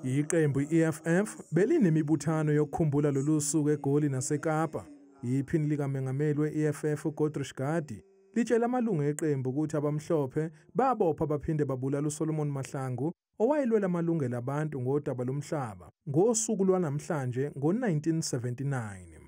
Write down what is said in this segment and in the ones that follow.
Iqembu i-EFF belinemibuthano yokukhumbula lolu suku eGoli naseKapa. Iphini likamengameli we-EFF uGodrish Gadi litshele amalungu eqembu ukuthi abamhlophe babopha baphinde babulala uSolomon Mahlangu owayelwela amalungelo abantu ngodaba lomhlaba ngosuku lwanamhlanje ngo-1979.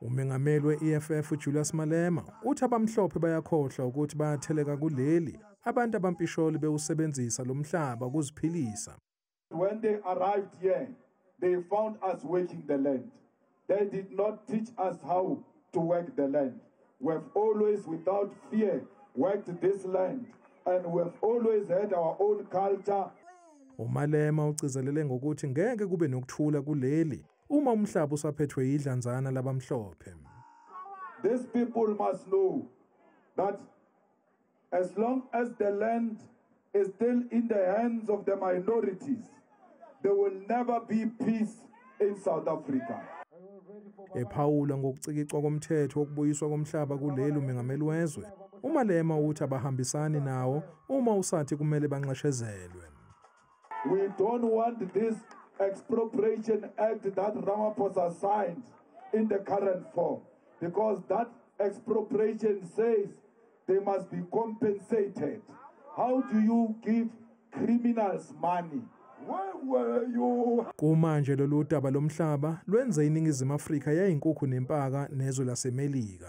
Umengameli we-EFF uJulius Malema uthi abamhlophe bayakhohlwa ukuthi bayatheleka kuleli abantu abampisholi bewusebenzisa lo mhlaba ukuziphilisa. When they arrived here, they found us working the land. They did not teach us how to work the land. We've always, without fear, worked this land and we've always had our own culture. UMalema ugcizelele ngokuthi ngeke kube nokuthula kuleli uma umhlaba usaphethwe yidlanzana labamhlophe These people must know that as long as the land is still in the hands of the minorities there will never be peace in South Africa ephawula ngokucikicwa komthetho wokubuyiswa komhlaba kuleli umengameli wezwe umalema uthi abahambisani nawo uma usathi kumele banxeshezelwe We don't want this expropriation act that Ramaphosa signed in the current form because that expropriation says they must be compensated. How do you give criminals money? Kumanje lolu daba lomhlaba lwenze iningizimu Afrika yayinkukhu nempaka nezwe laseMelika.